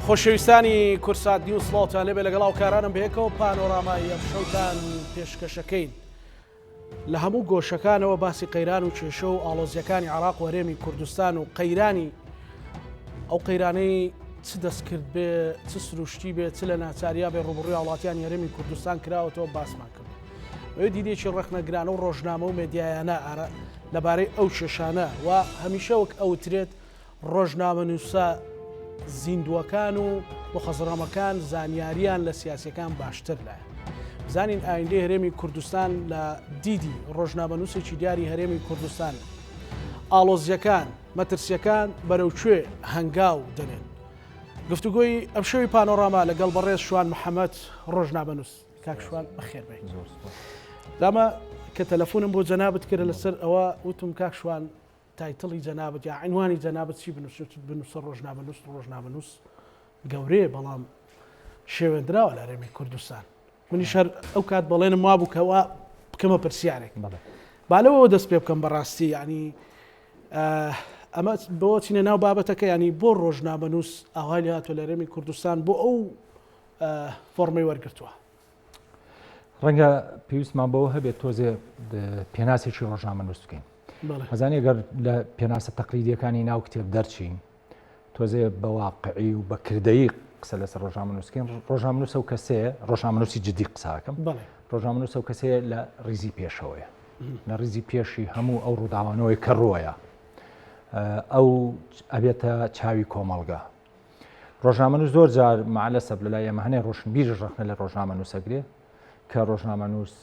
خۆشەویستانی کورسات نیوز سڵاوتان لێبێ لەگەڵ هاوکارانم بەیەکەوە پانۆرامای ئەمشەوتان پێشکەشەکەین لە هەموو گۆشەکانەوە باسی قەیران و کێشە و ئاڵۆزیەکانی عێراق و هەرێمی کوردستان و قەیرانی ئەو قەیرانەی چ دەستکرد بێ چ سروشتی بێ چ لە ناچاریا بێ ڕوبڕی هاڵاتیان هەرێمی کوردستان کراوەتەوە باسمان کرد. ئەوێ دیدێکی ڕخنەگرانە و ڕۆژنامە و مێدیایانە ئارا لەبارەی ئەو کێشانە و هەمیشە وەک ئەوترێت ڕۆژنامەنووسە زیندووەکان و مخەزڕەمەکان زانیارییان لە سیاسیەکان باشتر لایە. بزانین ئایندەی هەرێمی کوردستان لە دیدی ڕۆژنامەنووسێکی دیاری هەرێمی کوردستان ئاڵۆزیەکان مەترسیەکان بەرەو کوێ هەنگاو دەنێن گفتوگۆی ئەم شەوی پانۆڕاما لەگەڵ بەڕێز شوان محەممەد ڕۆژنامەنووس کاکشوان بەخێربێت دامە کە تەلەفۆنم بۆ جەنابەت کرد لەسەر ئەوە وتم کاکشوان تایتڵی جەنابت یا عینوانی جەنابت چی بنووسن چت بنووسە ڕۆژنامەنووس ڕۆژنامەنووس گەورەیە بەڵام شێوێندراوە لە هەرێمی کوردستان منیش هەر ئەو کات بەڵێنم وا بوو کەوا بکەمە پرسیارێک بەڵێ با لەوەوە دەست پێ بکەم بەڕاستی ینی ئەمە بۆ چینە ناو بابەتەکە ینی بۆ ڕۆژنامەنووس ئاوای لە هاتۆ لە هەرێمی کوردستان بۆ ئەو فۆرمەی وەرگتووە ڕەنگە پێویستمان بەوە هەبێت تۆزێ پێناسێکی ڕۆژنامە نووس بکەین هەزانانی گەر لە پێناسە تەقلیدیەکانی ناو کتێب دەرچین تۆزێ بەواقعی و بەکردەی قسە لەسەر ڕۆژنامە نووسکەین ڕۆژنامە نووسە و کەسێ ڕۆژنامە نووسی جددی قساکەم ڕۆژنامە نووسە و کەسێ لە ریزی پێشەوەیە لە ریزی پێشی هەموو ئەو ڕووداوانەوەی کە ڕۆیە ئەو ئەبێتە چاوی کۆمەڵگە ڕۆژنامەنووس زۆر جار مەعەلەسەب لەلای ئێمە هەنێ ڕۆشنبیرش ڕەخنە لە ڕۆژنامەنووسەگرێ کە ڕۆژنامەنووس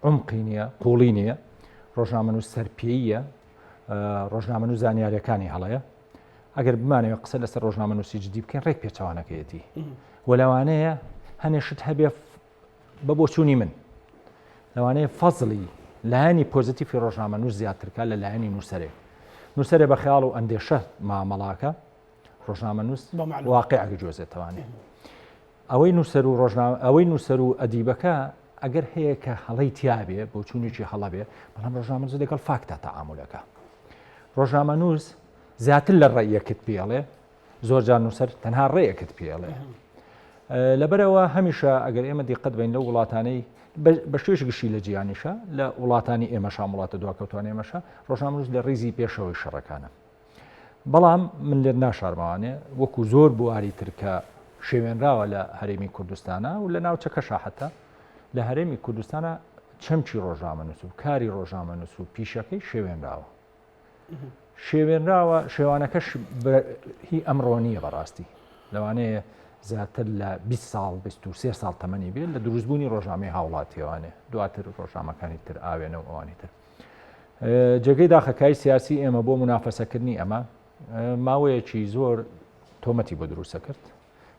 عمقی نییە قوڵی نییە ڕۆژنامەنووس سەرپێیە ڕۆژنامەنوو زانیارەکانی هەڵەیە ئەگەر بمانەوە قسە لەسەر ڕۆژنامەنووسی جدی بکەین ڕێک پێچوانەکەیەتی وەلاوانەیە هەنێشت هەبێ بە بۆچوونی من لەوانەیە فەزلی لایەنی پۆزیتیفی ڕۆژنامەنووس زیاترکە لە لایەنی نووسەرێک نووسەرێ بە خیاڵ و ئەندێشە مامەڵاکە ڕۆژنامەنووس واقع گجۆزێتەوانێ ئەوەی نووسەر و ڕۆژنامە ئەوەی نووسەر و ئەدیبەکە ئەگەر هەیە کە هەڵی تیاابێ بۆ چوونێکی هەڵە بێ بەڵام ڕۆژنامەز لەگەڵ فاکتە تەعاملەکە ڕۆژنامە نووس زیاتر لە ڕێیەکت پێڵێ زۆر جار نووسەر تەنها ڕێیەکت پێڵێ لەبەرەوە هەمیشە ئەگەر ئێمە دیقەت بین لە وڵاتانەی بە شێش گشتی لە جیانیشە لە وڵاتانی ئێمەشان وڵاتە دواکەوتوان ئێمەشە ڕۆژنامەز لە ڕیزی پێشەوەی شەڕەکانە بەڵام من لێت ناشارمەوانێ وەکو زۆر بواری تر کە شێوێنراوە لە هەرێمی کوردستانە و لە ناوچەکە شاحەتە لە هەرێمی کوردستانە چەمچی ڕۆژنامە نووس و کاری ڕۆژنامە نووس و پیشەکەی شێوێنراوە شێوێنراوە شێوانەکەش هی ئەمڕۆنیە بەڕاستی لەوانەیە زیاتر لە 20 ساڵ 23 ساڵ تەمەنی بێت لە دروستبوونی ڕۆژنامەی هاوڵاتیێوانێ دواتر ڕۆژنامەکانی تر ئاوێنە و ئەوانی تر جێگەی داخە کای سیاسی ئێمە بۆ منافەسەکردنی ئەمە ماوەیەکی زۆر تۆمەتی بۆ دروستە کرد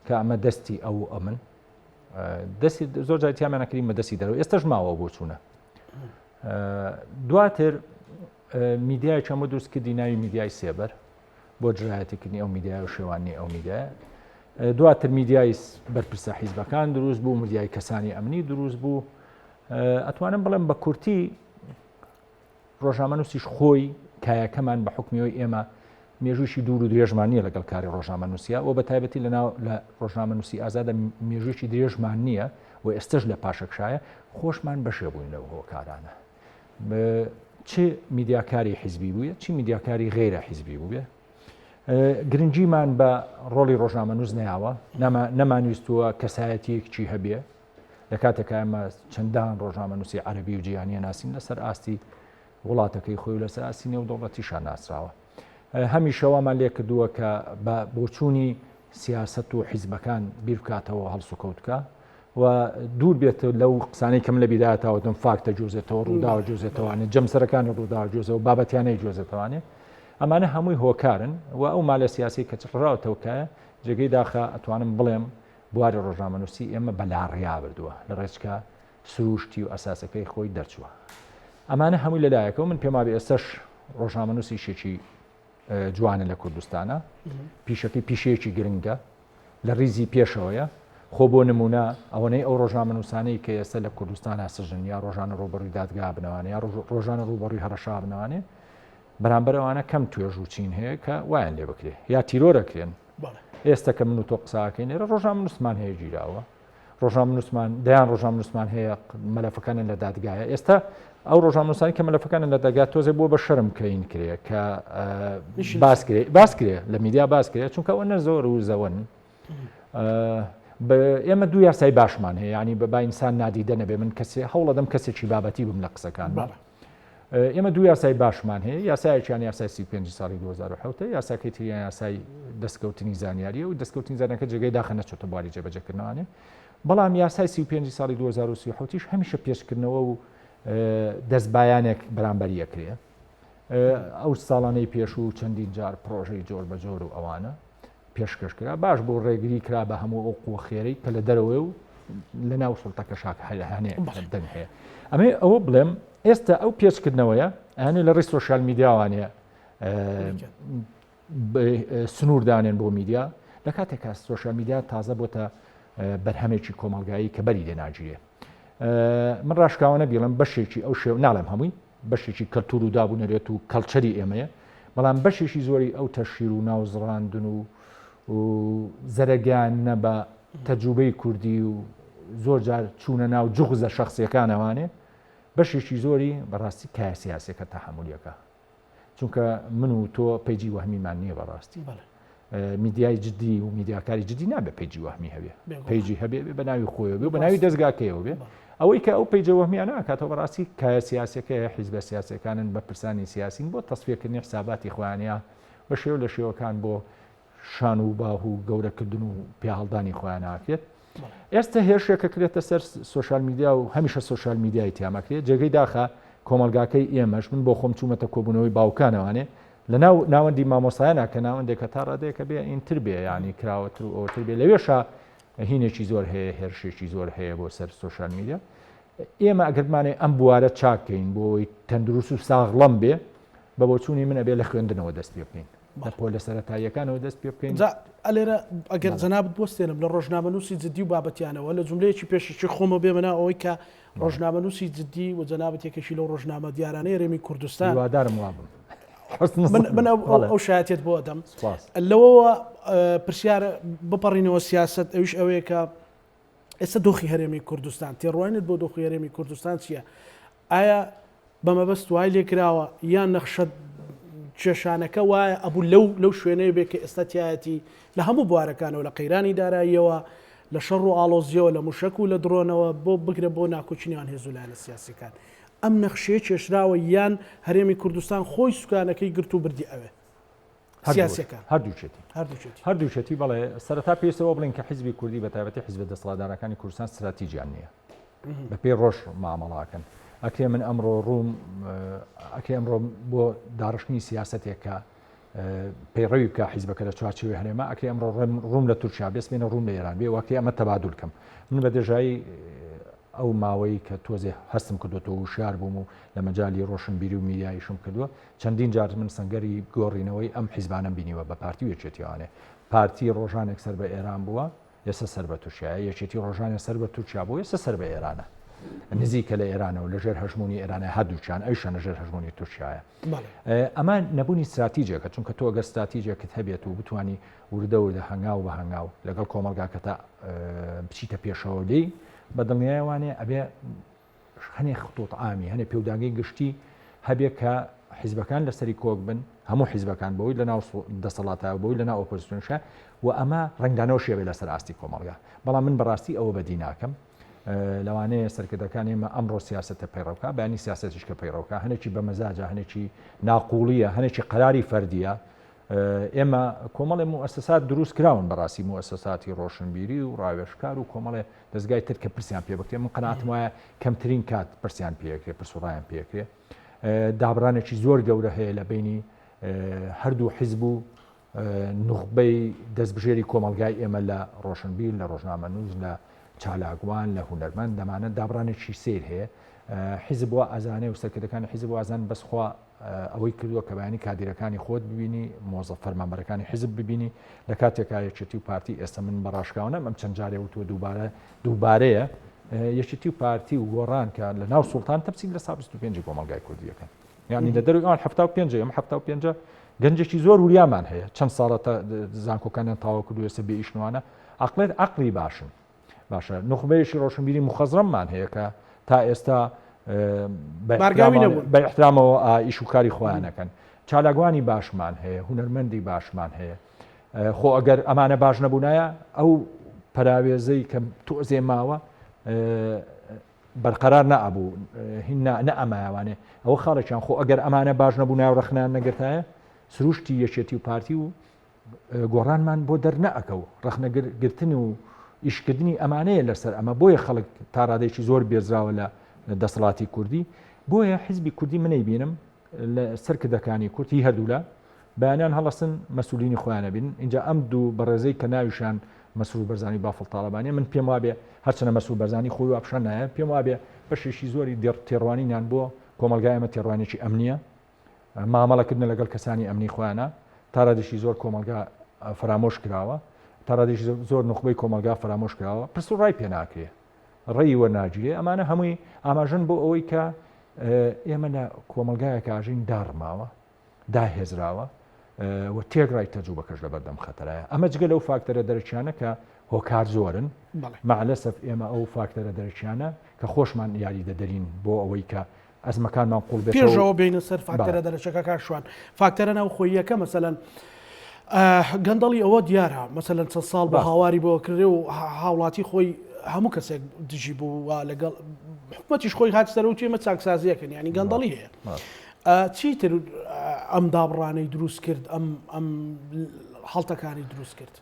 کە ئەمە دەستی ئەو ئەمن دەستی زۆر جاتیامانەکریم بە دەستی دەرەوە ئێستش ماوە بۆ چوونە دواتر میدیای چەمە دروست کردی ناوی میدیای سێبەر بۆ جرایەتیکردنی ئەو میدیای و شێوانی ئەو میدیای دواتر میدیای بەرپرسە حیزبەکان دروست بوو میدیای کەسانی ئەمنی دروست بوو ئەتوانم بڵێم بە کورتی ڕۆژامەنووسیش خۆی کایەکەمان بە حکمیەوەی ئێمە مێژوویی دوور و درێژمان نییە لەگەڵ کاری ڕۆژامەنووسیا و بە تایبەتی لەناو لە ڕۆژنامەنووسی ئازادە مێژوویی درێژمان نییە و ئێستش لە پاشەکشایە خۆشمان بەشێ بووین لەو هۆکارانە چ میدیاکاری حیزبی بووە چی میدیاکاری غیرە حیزبی بووە گرنگیمان بە ڕۆڵی ڕۆژنامە نووس نیاوە نەمانویستووە کەسایەتیەکچی هەبێ لە کاتێکا ئەمە چەندان ڕۆژنامەنووسی عەربی و جیهانیە ناسین لەسەر ئاستی وڵاتەکەی خۆی و لەسەر ئاستی نێو دەوڵەتیشان ناسراوە هەمیشەوامان لێ کردووە کە بە بۆچوونی سیاست و حیزبەکان بیرکاتەوە هەڵسو کەوتکە و دوور بێت لەو قسانەی کەم لە بیداتاوەتم فاکتە جوزێتەوە ڕووداوە جوزێتەوانێ جەمسەرەکانی ڕووداوە جوزەوە بابەتیانەی جوزێتەوانێ ئەمانە هەمووی هۆکارن و ئەو مالە سیاسی کە چڕراوتەوکایە جێگەی داخە ئەتوانم بڵێم بواری ڕۆژنامەنووسی ئێمە بە لاڕێیا بردووە، لە ڕێچکە سرووشتی و ئەساسەکەی خۆی دەرچووە. ئەمانە هەمووی لە لایەکەوە من پێم وابێ ئێستەش ڕۆژنامەنووسیشێکی جوانە لە کوردستانە پیشەکەی پیشەیەکی گرنگە لە ریزی پێشەوەیە خۆ بۆ نمونە ئەوەنەی ئەو ڕۆژنامە نووسانەی کە ئێستا لە کوردستانە سژن یا ڕۆژانە ڕوبڕی دادگا بنەوانە یا ڕۆژانە ڕوبڕی هەڕەشا بنەوانێ بەرامبەرەوانە کەم توێژ و چین هەیە کە وایان لێ بکرێ یا تیرۆرەکرێن ئێستە کە من و تۆ قساکەی نێرە ڕۆژنامە نووسمان هەیە گیراوە ڕۆژنامە نووسمان دەیان ڕۆژنامە نووسمان هەیە مەلەفەکانیان لە دادگایە ئێستا ئەو ڕۆژامنووسانی کە مەلەفەکانیان لە دەگات تۆزێ بووە بە شەرم کەین کرێ کە باسکرێ باسکرێ لە میدیا باسکرێ چونکە ئەوە نەزۆر و زەوەن ئێمە دوو یاسای باشمان هەیە ینی بە باینسان نادیدە نەبێ من کەسێ هەوڵەدەم کەسێکی بابەتی بم لە قسەکان باڵە ئێمە دوو یاسای باشمان هەیە یاسایەکیان یاسای سی پێنج ساڵی 2007 یاساکەی تریان یاسای دەستکەوتنی زانیاریە و دەستکەوتنی زانەکە جێگەی داخە نەچێتە بواری جێبەجەکردنانێ بەڵام یاسای سی پێنج ساڵی 2030 هەمیشە پێشکردنەوە و دەستبایانێک بەرامبەر یەکرێ ئەو ساڵانەی پێش و چەندین جار پرۆژەی جۆر بە جۆر و ئەوانە پێشکەش کرا باش بۆ ڕێگری کرا بە هەموو ئەو قوە خێرەی کە لە دەرەوەی و لە ناو سڵتەکە شاک هەیە دەنگ هەیە ئەمێ ئەوە بڵێم ئێستا ئەو پێچکردنەوەیە ئەنێ لە ڕی سوۆشال میدیاوانەیە سنووردانێن بۆ میدیا لە کاتێکا سوۆشال میدیا تازە بۆتە بەرهەمێکی کۆمەلگایی کە بەری لێناگیرێ من ڕاشکاوانە بیڵم بەشێکی ئەو شێو ناڵێم هەمووی بەشێکی کەلتور و داب و نەرێت و کەڵچەری ئێمەیە بەڵام بەشێکی زۆری ئەو تەشیر و ناوزڕاندن و زەرەگیان نە بە تەجوبەی کوردی و زۆر جار چوونە ناو جغزە شخصیەکانەوانێ بەشێکی زۆری بەڕاستی کایسیاسەکە تەحملیەکە چونکە من و تۆ پێجی وەهمیمان نییە بەڕاستی بەڵێ میدیای جددی و میدیاکاری جددی نابێت پیجی وەهمی هەبێ پیجی هەبێ بە ناوی خۆی بێ بە ناوی دەستگاکەیەوە بێ ئەوەی کە ئەو پیجە وەهمیانە کاتەوە بەڕاستی کایە سیاسەکەی حیزبە سیاسەکانن بە پرسانی سیاسین بۆ تەسفیەکردنی حساباتی خوانە بە شێو لە شێوەکان بۆ شان و باه و گەورەکردن و پیاهڵدانی خۆیان ناکرێت ئێستە هێرشێک کە کرێتە سەر سۆشال میدیا و هەمیشە سۆشال میدیای تیامەکرێت جێگەی داخە کۆمەلگاکەی ئێمەش من بۆ خۆم چوومەتە کۆبوونەوەی باوکانەوانێ لە ناو ناوەندی مامۆسایانە کە ناوەندێکە تا ڕادەیەکە بێ ئینتر بێ ینی کراوەتر و ئەوتر بێ لەوێشە هینێکی زۆر هەیە هێرشێکی زۆر هەیە بۆ سەر سۆشال میدیا ئێمە ئەگەرمانێ ئەم بوارە چاکەین بۆی تەندروست و ساغڵم بێ بە بۆچوونی من ئەبێ لە خوێندنەوە دەست پێ بکەین بە پۆلە سەرەتاییەکانەوە دەست پێ بکەین. جا لێرە ئەگەر جەنابت بوەستێنم لە ڕۆژنامەنووسی جددی و بابەتیانەوە لە جوملەیەکی پێشەکی خۆمەوە بێمە ناو ئەوەی کە ڕۆژنامەنووسی جددی و جەنابت یەکێکی لەو ڕۆژنامە دیارانەی هەرێمی کوردستان هیوادارم وا بم. من ئەو شایەتێت بۆ ئەدەم لەوەوە پرسیارە بپەڕینەوە سیاست ئەوش ئەوەیە کە ئێستا دۆخی هەرێمی کوردستان تێڕوانێت بۆ دۆخی هەرێمی کوردستان چییە؟ ئایا بە مەبەست وای لێ کراوە یان نەخشە کێشانەکە وایە ئەبوو لەو لەو شوێنەیە بێ کە ئێستا تایەتی لە هەموو بوارەکانەوە لە قەیرانی داراییەوە لە شەڕ و ئاڵۆزیەوە لە موشەک و لە درۆنەوە بۆ بگرە بۆ ناکۆچنیان هێزو لایەنە سیاسەکان ئەم نەخشەیە کێشراوە یان هەرێمی کوردستان خۆی سوکانەکەی گرت و بردی ئەوێ. سیاسەکان هەردووچێتی هەردووچێتی بەڵێ سەرتا پێستەوە بڵین کە حیزبی کوردی بە تایبەتی حیزبە دەسەڵاتدارەکانی کوردستان استراتیجیان نییە بە پێی ڕۆژ مامەڵاکەن ئەکرێ من ئەمڕۆ ڕووم ئەکرێ ئەمڕۆ بۆ داڕشتنی سیاستێکە پەیڕەوی بکە حیزبەکە لە چوارچوی هەرێمە ئەکرێ ئەمڕۆ ڕووم لە تورکیا بێست بێنە ڕووم لە ئێران بێ وەکرێ ئەمە تەبادول کەم من بە دێژایی ئەو ماوەی کە تۆزێ هەستم کردو تۆ وشار بووم و لە مەجای ڕۆشنبیری و میریایشم کردووە چەندین جار من سەنگەری گۆڕینەوەی ئەم حیزبانەم بینیوە بە پارتی و یەکێتی ئەوانێ پارتی ڕۆژانێک سەر بە ئێران بووە ئێستا سەر بە تورکیا یەکێتی ڕۆژانێ سەر بە تورکیا بوو ئێستا سەر بە ئێرانە نزیکە لە ئێرانەوە لەژێر هەژمونی ئێرانە هەردووچان ئەیشە لەژێر هەژمونی تورکایە ئەمە نەبوونی استراتیجێکە چونکە تۆ گە استراتیجێکت هەبێت و بتانی وردە وردە هەنگاو بە هەنگاو لەگەڵ کۆمەلگاکە تا بچیتە پێشەوە لی بە دڵنیایوانێ ئەبێ هەنێ خطوط عامی هەنێ پێودانگەی گشتی هەبێ کە حیزبەکان لەسەری کۆک بن هەموو حیزبەکان بەوەی لە ناو دەسەڵاتە بەوەی لە ناو ئۆپۆزیسیۆنشە و ئەمە ڕنگدانەوە شێبێ لەسەر ئاستی کۆمەڵگا بەڵام من بەڕاستی ئەوە بەدی ناکەم لەوانەیە سەرکردەکان ئێمە ئەمڕۆ سیاستە پەیڕەوکە بەنی سیاستش کە پەیڕەوکە هەنێکی بە مەزاجە هەنێکی ناقوڵیە هەنێکی قەراری فەردیە ئێمە کۆمەڵێ موسسات دروست کراون بەڕاستی موسساتی ڕۆشنبیری و ڕاوێشکار و کۆمەڵێ دەزگای تر کە پرسیان پێ بکرێ من قەناتم وایە کەمترین کات پرسیان پێکرێ پرسوڕایان پێکرێ دابرانێکی زۆر گەورە هەیە لە بینی هەردوو حیزب و نوخبەی دەستبژێری کۆمەلگای ئێمە لە ڕۆشنبیر لە ڕۆژنامە نووز لە چالاگوان لە هوەرمەند دەمانە دابرانێکی سیر هەیە حیزب بۆ ئازانێ و سەرکردەکانی حیزب وازان بەسخوا ئەوەی کردووە کە بەیانی کادیرەکانی خۆت ببینی مۆزە فەرمانبەرەکانی حیزب ببینی لە کاتێکا یەکێتی و پارتی ئێستا من بە ڕاشکاونەم ئەم چەند جارێ وتوە دووبارە دووبارەیە یەکێتی و پارتی و گۆڕان کە لە ناو سوڵتان تەپسی لە سا 25 کۆمەلگای کوردیەکە یعنی لە دەروان ه پێنج ئەم ه پێنج گەنجێکی زۆر وریامان هەیە چەند ساڵە زانکۆکانیان تاوا کردو ێسە بێئیشنوانە عقلێت عقلی باشن باشە نوخبەیەکی ڕۆشنبیری مخەزرەممان هەیە کە تا ئێستا بە احترامەوە ئیش و کاری خۆیانەکەن چالاگوانی باشمان هەیە هوەرمەندی باشمان هەیە خۆ ئەگەر ئەمانە باش نەبوونایە ئەو پراوێزەی کە تۆزێ ماوە بەرقەرار نەبوو هینا نە ئەمایوانێ ئەوە خاڵێکیان خۆ ئەگەر ئەمانە باش نەبوو ناو ڕخنان نەگرتایە سروشتی یەکێتی و پارتی و گۆڕانمان بۆ دەرنەئەکە و ڕەخنەگر گرتن و ئیشکردنی ئەمانەیە لەسەر ئەمە بۆیە خەڵک تاڕادێکی زۆر بێزراوە لە دەسەڵاتی کوردی بۆیە حیزبی کوردی منەی بینم لە سەر کردەکانی کورتی هەردوولا بەیانیان هەڵستن مەسولینی خۆیانە بین اینجا ئەم دوو بەڕێزەی کە ناویشان مەسرور بەرزانی بافڵ تاالبانە من پێم وابێ هەرچەنە مەسول بەرزانی خۆی واپشان نایە پێم وابێ بەشێکی زۆری دێڕ تێڕوانینان بۆ کۆمەلگایمە تێڕوانێکی ئەمنیە مامەڵەکردنە لەگەڵ کەسانی ئەمنی خۆیانە تاڕادیشی زۆر کۆمەلگا فەرامۆش کراوە تاڕادیش زۆر نخبەی کۆمەلگا فەرامۆش کراوە پرس و ڕای پێ ناکرێ ڕێی وەرناگیرێ ئەمانە هەمووی ئاماژن بۆ ئەوەی کە ئێمە لە کۆمەلگایە کاژین داڕماوە داهێزراوە و تێک ڕای تەجوو بەکەش لە بەردەم خەتەرایە ئەمە جگە لەو فاکتەرە دەرەکیانە کە هۆکار زۆرن مەعلەسەف ئێمە ئەو فاکتەرە دەرەکیانە کە خۆشمان یاری دەدەرین بۆ ئەوەی کە ئەزمەکانمان قوڵ بێتەوە. پێش ئەوە بێینە سەر فاکتەرە دەرەچەکە کاک شوان، فاکتەرە ناوخۆییەکە مەسەلەن گەندەڵی ئەوە دیارە مەسەلەن چەند ساڵ بە هاواری بۆ کردێ و هاوڵاتی خۆی هەموو کەسێک دژی بوو و لەگەڵ حکومەتیش خۆی هات سەرەوە توێمە چاکسازیەکەن ینی گەندەڵی هەیە چیتر ئەم دابڕانەی دروست کرد ئەم ئەم هەڵتەکانی دروست کرد.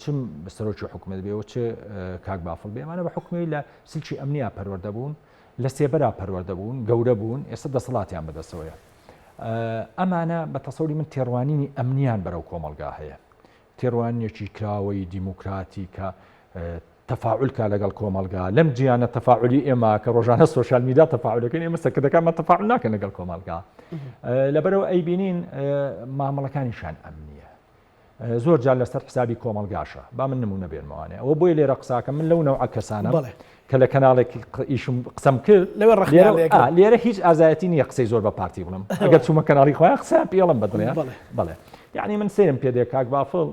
چ سەرۆکی حکومت بێ و چ کاک بافڵ بێ ئەمانە بە حکومی لە سلکی ئەمنیا پەروەەردە بوون لە سێبەرا پەروەەردە بوون گەورە بوون ئێستا دەسەڵاتیان بەدەسەوەیە ئەمانە بە تەسەوری من تێڕوانینی ئەمنیان بەرەو کۆمەلگا هەیە تێڕوانیەکی کراوەی دیموکراتی کە تەفاعلکە لەگەڵ کۆمەلگا لەم جیانە تەفاعلی ئێمە کە ڕۆژانە سوۆشال میدا تەفاعلەکەن ئێمە سەکردەکانمە تەفاعل ناکەن لەگەڵ کۆمەلگا لەبەرەوە ئەیبینین مامەڵەکانیشان ئەمنیە زۆر جار لەسەر حسابی کۆمەلگاشە با من نمونە بێنمەوانێ ئەوە بۆی لێرە قساکە من لەو نەوعە کەسانە بڵێ کە لە کەناڵێک ئیشم قسەم کرد لەوێ ڕخ لێرە هیچ ئازایەتی نییە قسەی زۆر بە پارتی بڵم ئەگەر چوومە کەناڵی خۆیان قسە پێڵم بەدڵێ بڵێ یعنی من سرم پێ دێ کاک بافڵ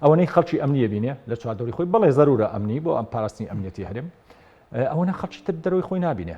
ئەوەنەی خەڵکی ئەمنیە بینێ لە چواردەوری خۆی بڵێ زەرورە ئەمنی بۆ ئەم پاراستنی ئەمنیەتی هەرم ئەوەنە خەڵکی تر دەرەوەی خۆی نبینێ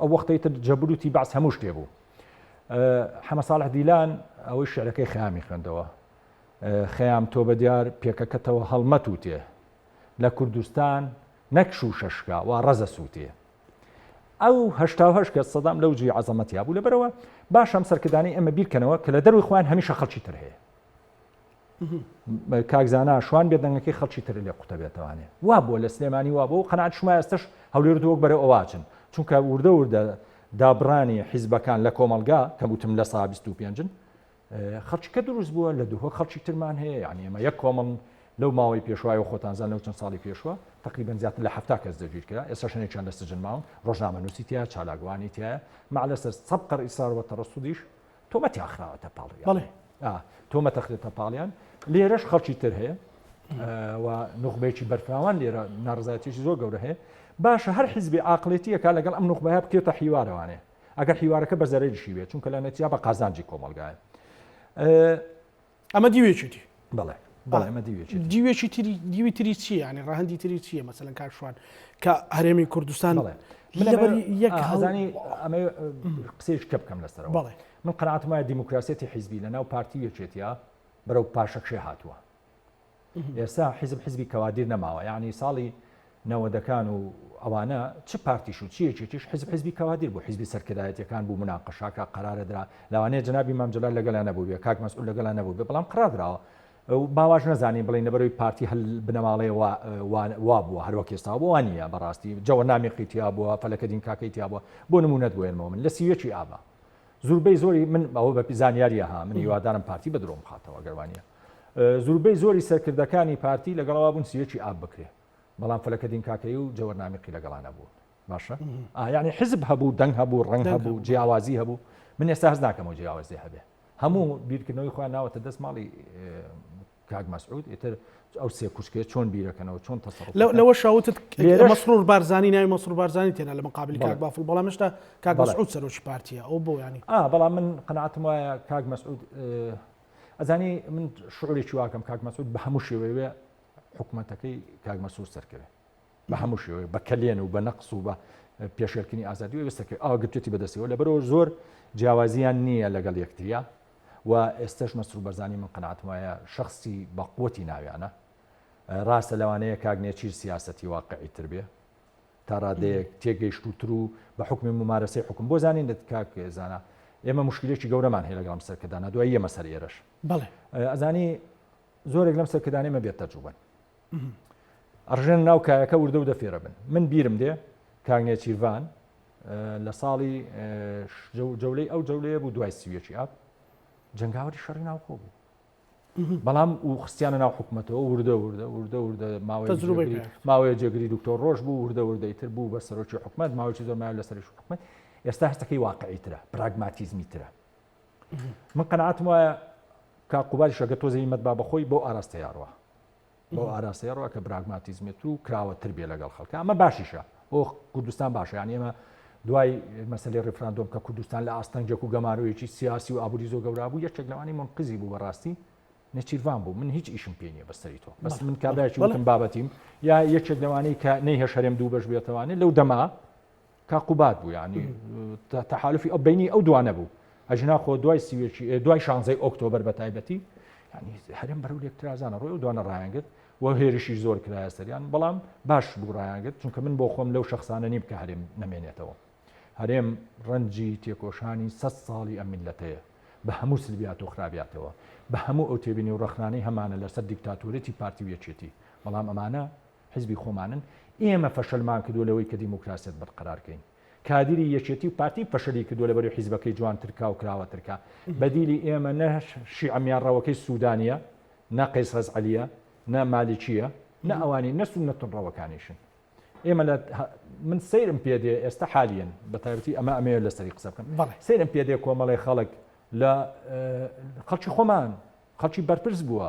ئەو وەختەی تر جەبروتی بەعس هەموو شتێ بوو حەمە ساڵح دیلان ئەوەی شعرەکەی خەیامی خوێندەوە خەیام تۆ بە دیار پێکەکەتەوە هەڵمەت و تێ لە کوردستان نەک شوشە شکا وا ڕەزە سووتێ ئەو هشتاهش کە سەدام لەو جی عزەمەتیا بوو لەبەرەوە باش ئەم سەرکردانی ئەمە بیرکەنەوە کە لە دەروی خۆیان هەمیشە خەڵکی تر هەیە کاک زانا شوان بێ دەنگەکەی خەڵکی تر لێ قوتە بێتوانێ وا بۆ لە سلێمانی وا بۆ قەنات شما ئێستش هەولێرت وەک بەرە ئەواچن چونکە وردە وردە دابڕانی حیزبەکان لە کۆمەلگا کە وتم لە سا 25 خەڵکیکە دروست بووە لە دووە خەڵکی ترمان هەیە یعنی ئێمە یەک کۆمەڵ لەو ماوەی پێشوایە خۆتانزان لەو چەند ساڵی پێشوە تقریبان زیاتر لە هەفتا کەس دەگیر کرا ئێستا شنێکیان لە سجن ماون ڕۆژنامە نووسی تیا چالاگوانی تایە مالەسەر سەب قەر ئیسار وە تەڕسودیش تۆمەتیان خراوەتە پاڵیان بەڵێ تۆمەتە خرێتە پاڵیان لێرەش خەڵکی تر هەیە و نوخبەیەکی بەرفراوان لێرە ناڕزایەتێکی زۆر گەورە هەیە باشە هەر حیزبی ئاقلێتیەکە لەگەڵ ئەم نوخبەیە بکێتە حیوارەوانێ ئەگەر حیوارەکە بە زەرەریشی بێت چونکە لە نەتیا بە قازانجی کۆمەلگایە ئەمە دیوێکی دی. بەڵێ بەڵێ ئەمە دیوێکی دی. دیوێکی تری دیوی تری چییە یانی ڕەهەندی تری چییە مەسەلەن کاک شوان کە هەرێمی کوردستان بەڵێ من لەبەر یەک هەزانی ئەمە قسەیش کە بکەم لەسەرەوە بەڵێ من قەناعەتم وایە دیموکراسیەتی حیزبی لەناو پارتی و یەکێتیە بەرەو پاشەکشێ هاتووە ئێستا حیزب حیزبی کەوادیر نەماوە یاعنی ساڵی نەوەدەکان و ئەوانە چ پارتیش و چیەکێکیش حیزب حیزبی کەوادیر بۆ حیزبی سەرکردایەتەکان بوو مناقەشاکە قرارە درا لەوانەیە جنابی مامجلال لەگەلا نەبووێ کاک مەسئول لەگەلا نەبوو بێ بەڵام قرار دراوە باواش نەزانین بڵین لەبەرەوەی پارتی هەل بنەماڵەیە وا بووە هەروەک ئێستا بۆ وانە بەڕاستی جەوە نامیقی تیا بووە فەلەکە دین کاکەی تیا بووە بۆ نمونەت بۆێنمەوە من لە سیوێکی ئابا زوربەی زۆری من ئەوە بە زانیاریە ها من هیوادارم پارتی بە درۆم خاتەوە گەروانە زوربەی زۆری سەرکردەکانی پارتی لەگەڵەوە بوون سیەکی ئاب بکرێ بەڵام فەلەکە دینکاکەی و جەوەرنامیقی لەگەڵانە بوون باشە ئایانی حزب هەبوو دەنگ هەبوو ڕنگ هەبوو جیاوازی هەبوو من ئێستا هەز ناکەمەوە جیاوازی هەبێ هەموو بیرکردنەوەی خۆیان ناوەتە دەست ماڵی کاک مەسعود ئیتر ئەو سێ کوشکێ چۆن بیرەکەنەوە چۆن تەسەڕ لەوەشا وتت مەسرور بارزانانی ناوی مەسرور بارزانانی تێنا لە مقابلی کاک بافڵ بەڵام هێشتا کاک مەسعود سەرۆکی پارتیە ئەو بۆ ینی بەڵام من قەناتم وایە کاک مەسعود ئەزانی من شعورێکی واکەم کاک مەسعود بە هەموو شێوەیە حکوومەتەکەی کاک مەسعود سەرکەوێت بە هەموو شێوەیە بە کەلێن و بە نەقس و بە پێشێلکردنی ئازادی و وێستەکەی ئاوا گرتوێتی بەدەستەوە لەبەرەوە زۆر جیاوازیان نییە لەگەڵ یەکتریا و ئێستش مەسرور بەرزانی من قەناتم وایە شخصی بە قوتی ناویانە ڕاستە لەوانەیە کاگنێچیر سیاستی واقعی تر بێ تا ڕادەیەک تێگەیشتوتر و بە حکومی ممارەسەی حکوم بۆ زانین دەت کاک زانە ئێمە مشکلێکی گەورەمان هەیە لەگەڵم سەرکردانە دوای ئێمە سەر ئێرش بڵێ ئەزانی زۆرێک لەم سەرکردانەی مە بێت تەجوبن ئەڕژێنە ناو کایەکە وردە و دەفێرە بن من بیرم دێ کاک نێچیرڤان لە ساڵی جەولەی ئەو جەولەیە بوو دوای سویەکی ئاپ جنگاوەری شەڕی ناوخۆ بوو بەڵام و خستیانە ناو حکوومەتەوە وردە وردە وردە وردە ماوەی ماوەیە جێگری دکتۆر ڕۆژ بوو وردە وردەی تر بوو بە سەرۆکی حکومت ماوەی زۆرمایە لە سەرش حکومت ئێستا هەستەکەی واقعی ترە پراگماتیزمی ترە من قەنعاتم وایە کا قوباری شەگە تۆزە هیمەت با بەخۆی بۆ ئاراستە یاڕوە بۆ ئاراستە یاڕوە کە براگماتیزمێت و کراوە تر بێ لەگەڵ خەڵکە ئەمە باشیشە بۆ کوردستان باشە یان ئێمە دوای مەسلی ڕفراندۆم کە کوردستان لە ئاستەنگێک و گەمارۆیەکی سیاسی و ئابووری زۆ گەورابوو یەکێک لەوانی من قزی بوو بەڕاستی نەچیرڤان بوو من هیچ ئیشم پێ نیە بەسەری تۆ بەس من کابراکی وڵم بابەتیم یا یەکێک لەوانەی کە نەی هەشەرێم دوو بەش بێتوانێت لەو دەما کاک قوباد بوو یعنی تەحالفی ئەو بینی ئەو دوانە بوو ئەژنا خۆ دوای سیوێکی دوای شانزەی ئۆکتۆبر بە تایبەتی ینی هەرم بەرو لێکترازانە ڕۆی و دوانە ڕایانگرت و هێرشی زۆر کرایە سەریان بەڵام باش بوو ڕایانگرت چونکە من بۆ خۆم لەو شخصانە نیم کە هەرێم نمێنێتەوە هەرێم ڕەنجی تێکۆشانی سە ساڵی ئەم میلەتەیە بە هەموو سلبیات و خراپاتەوە بە هەموو ئەو تێبینی و ڕخنانەی هەمانە لەسەر دیکتاتورەتی پارتی وێچێتی بەڵام ئەمانە حیزبی خۆمانن، ئێمە فەشەلمان کردووە لەوەی کە دیموکراسیەت بەرقەرار کەین. کادیری یەکێتی و پارتی فەشەلی کردووە لەبەروی حیزبەکەی جوانترکا و کراوەترکا. بەدیلی ئێمە نە شیعە میانڕەوەکەی سودانیە، نە قەیس غەزعەلیە، نە مالیکیە، نە ئەوانی نە سوننە تونڕەوەکانیشن. ئێمە لە من سەیرم پێ دێ ئێستا حالیەن بەتایبەتی ئەمە ئەمەیە لەسەری قسە بکەم. سەیرم پێ دێ کۆمەڵی خەڵک لە خەڵکی خۆمان خەڵکی بەرپرس بووە.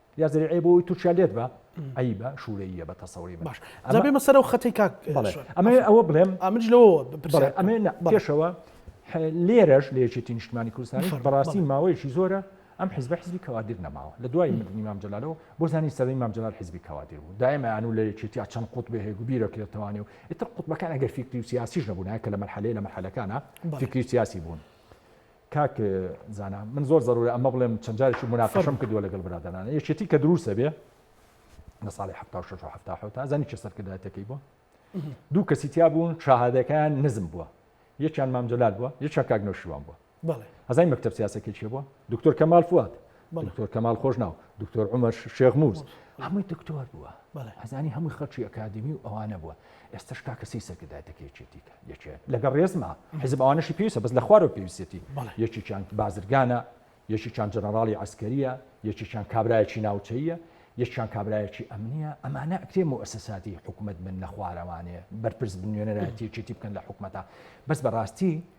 یا زەریعەیە بۆ ئەوەی تورکیا لێت با عیبە شوورەییە بە تەسەوری من. باش ئەمە- جا بێمە سەرەوە خەتەی کاک بەڵێ شوان. ئەمە ئەوە بڵێم ئامنج لەوەوە بەڵێ بپرسیارەکەم. ئەمێ نە بەڵێ. پێشەوە ح- لێرەش لە یەکێتی نیشتمانی کوردستانیش بفەرموو، بەڕاستی بەڵێ. ماوەیەکی زۆرە ئەم حزبە حزبی کەوادیر نەماوە لە دوای مردنی مام جەلالەوە بۆ زانی سەردەمی مام جەلال حزبی کەوادیر بوو دایم ئەیانوو لە یەکێتیا چەند قوتبێ هەیە گوو بیرەکرێتەوە نێو ئیتر قوتبەکان ئەگەر فیکری و سیاسیش نەبوونایە کە لە مەرحەلەیە لە مەرحەلەکانە بەڵێ. فیکری و سیاسی بوون کاک زانا من زۆر زەرورە ئەمە بڵێم چەند جارێکی مناقەشەم کردووە لەگەڵ برادەرانە یەکێتی کە دروستە بێ لە ساڵی ه ه تا زانی چه سەرکردایەتەکەی بووە دوو کەسی تیا بوون شاهادەکەیان نزم بووە یەکیان مامجلال بووە یەکە کاک نەوشیوان بووە هەزای مەکتب سیاسەکەی چێ بووە دکتۆر کەمال فوات دکتۆر کەمال خۆش ناو دکتۆر عمر شێخ موز هەمووی دکتۆر بووە ئەزانی هەمووی خەڵکی ئەکادمی و ئەوانە بووە ئێستا شکا کەسی سەرکردای دەکەێتێتیکە یەکێت لەگەڵ ڕێزما حزب ئەوانەشی پێویستە بەس لە خوارەوە پێویستێتی یەکیان بازرگانە یەکیان جەنەراڵی ئەسکەریە یەکیان کابراایکی ناوچەیە یەکیان کابراایکی ئەمنیە ئەمانە ئەکرێ و ئەسەساتی حکوومەت من لە خوارەوانێ بەرپرس بنوێنەرایەتیەکێتی بکەن لە حکوومەتە بەس بەڕاستی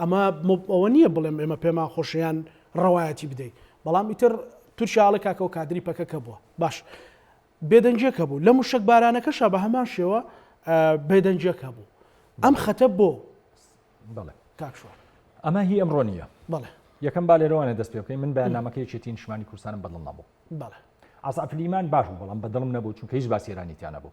ئەمە مب ئەوە نییە بڵێم ئێمە پێمان خۆشە یان ڕەوایەتی بدەی بەڵام ئیتر تورکیا ئەڵێ کاکە ئەو کادری پەکەکە بووە باش بێدەنگیەک هەبوو لە موشەکبارانەکەشا بە هەمان شێوە بێدەنگیەک هەبوو ئەم خەتە بۆ بڵێ کاک شوان ئەمە هی ئەمڕۆ نییە بڵێ یەکەم با لێرەوانە دەست پێ بکەین من بەیانامەکە یەکێتی نیشمانی کوردستانم بەدڵ نەبوو بەڵێ ئاسافلیمان باش بوو بەڵام بەدڵم نەبوو چونکە هیچ باسیێرانیتیانە بوو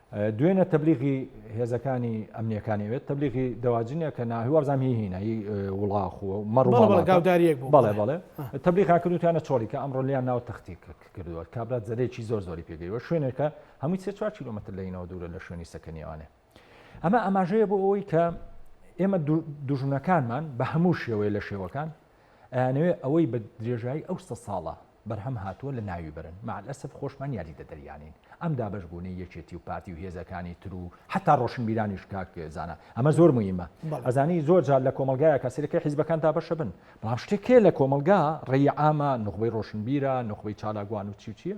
دوێنێ تەبلیغی هێزەکانی ئەمنیەکانی وێت تەبلیغی دەواجنە کە ناهی وەرزان هی هینە هی وڵاخ و مەڕ گاوداریەک بەڵێ بەڵێ تەبلیغا کردوتیانە چۆڵی کە ئەمڕۆ لیان ناو تەختی کردووە کابرات زەرێکی زۆر زۆری پێگەیوە شوێنێکە هەمووی سێ چوار کیلومتر لەینەوە دوورە لە شوێنی سەکەنیوانێ ئەمە ئاماژەیە بۆ ئەوەی کە ئێمە دوژنەکانمان بە هەموو شێوەیە لە شێوەکان ئەیانەوێ ئەوەی بە درێژایی ئەو سە ساڵە بەرهەم هاتووە لە ناوی بەرن، مع الاسف خۆشمان یاریدە دەریانین. ئەم دابەش بوونەی یەکێتی و پارتی و هێزەکانی تر و حەتا ڕۆشنبیرانیش کاک زانا ئەمە زۆر موهیمە. ئەزانی زۆر جار لە کۆمەڵگایەکا سەیرەکەی حیزبەکان دابەشە بن بەڵام شتێک هەیە لە کۆمەڵگا ڕێی عامە نوخبەی ڕۆشنبیرە نوخبەی چالاکوان و چی و چییە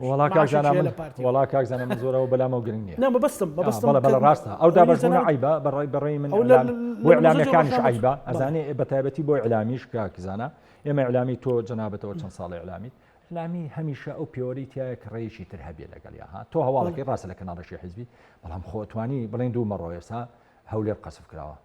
وەڵا کاک زانا من وەڵا کاک زانا من زۆرەوە بەلامەوە گرنگ نییە نا مەبەستم مەبەستم بەڵێ بەڵێ ڕاستە ئەو دابەشبوونە عەیبە بەڕای بەڕای من بۆ ئیعلامییەکانیش عەیبە ئەزانێ بە تایبەتی بۆ ئیعلامیش کاک زانا ئێمە ئیعلامی تۆ جەنابەتەوە چەند ساڵی ئیعلامیت ئیعلامی هەمیشە ئەو پێوەری تایە کە ڕێیشی تر هەبێ لەگەڵیا ها تۆ هەواڵەکەی ڕاستە لە کەناڵەشی حیزبی بەڵام خۆتوانی بڵێن دوو مەڕۆ ئێستا هەولێر قەسف کراوە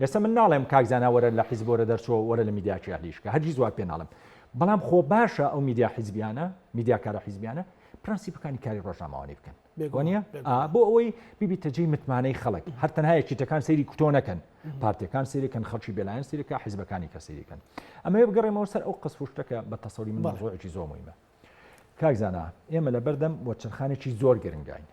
ئێستا من ناڵێم کاک زانا وەرە لە حیزب وەرە دەرچۆ وەرە لە میدیاچی هەلیش کە هەرگیز وات پێ ناڵێم بەڵام خۆ باشە ئەو میدیا حیزبیانە میدیا کارە حیزبیانە پرەنسیپەکانی کاری ڕۆژنامەوانی بکەن بێگوانە بۆ ئەوەی بیبی تەجێی متمانەی خەڵک هەر تەنها یەکیتەکان سەیری کوتۆ نەکەن پارتەکان سیرەکەن خەڵکی بێلایەن سیرەکە حیزبەکانی کە سیرەکەن ئەمە بگەڕێمەوە سەر ئەو قسفشتەکە بە تەسەوری من ڕۆێکی زۆمەیمە کاکزانە ئێمە لە بەردەم وەچەرخانێکی زۆر گرنگین